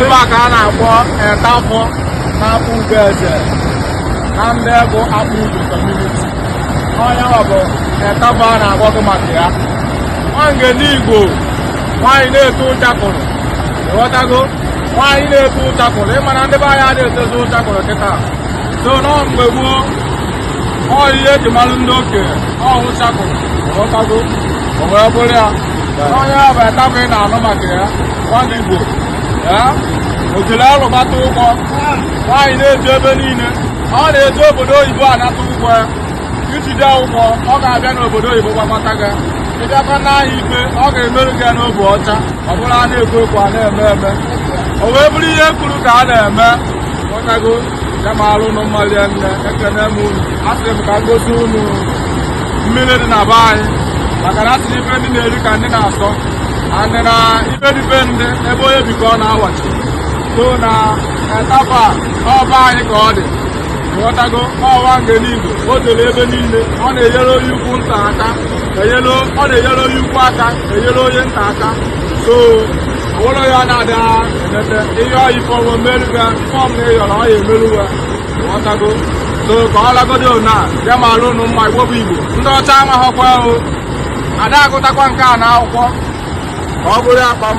Ebe a ka a na-akpọ Etaba n'Akpugoeze na ndị bụ Akpugo kọmuniti. Onye ọ bụ Etaba a na-agwa gị maka ya. Nwangene Igbo nwaanyị na-eto ụchakụrụ ịghọtago nwaanyị na-eto ụchakụrụ ịma na ndị be anyị a na-etozi ụchakụrụ kịta so na mgbe gboo ọ ihe eji mara ndị okenye ọ ụchakụrụ ịghọtago o wee bụrụ ya onye ya bụ etaba ị na-anụ maka ya nwangene igbo ya ojele alụbata ụgwọ nwaanyị na-eje ebe niile ọ na-eje obodo oyibo anata ụgwọ ya ijide ụgwọ ọ ga-abịa n'obodo oyibo gbamata gị ịbịakwa n'ahịa ikpe ọ ga-emerụ gị ya n'obu ọcha ọ bụrọ a na-ekwu ekwu a na-eme eme o wee bụrụ ihe kwuru ka a na-eme ịghọtago Ya maalụ unu mma rinne ekene m unu asị m ka ngosi unu mmiri dị na be anyị maka na asị ife ndị na-eri ka ndị na-asọ and na ife dị be ndị ebe onye bi ka ọ na-awachi so na etaba nọ be anyị ka ọ dị ịghọtago ọ nwangene igbo o dere ebe niile ọ na-enyere onye ukwu nta aka ọ na-enyere onye ukwu aka enyere onye nta aka so ụlọ ya na-ada emete ihe ịyọ ife ọ ya-emerụ gị ife ọbụna ịyọrọ ọ ya-emerụ gị ịghọtago so ka ọ lagodo na ya maalụ ụnụ mma igbo bụ igbo ndị ọcha amaghọkwa o ada agụtakwa nke a na akwụkwọ ka ọ bụrụ akpa m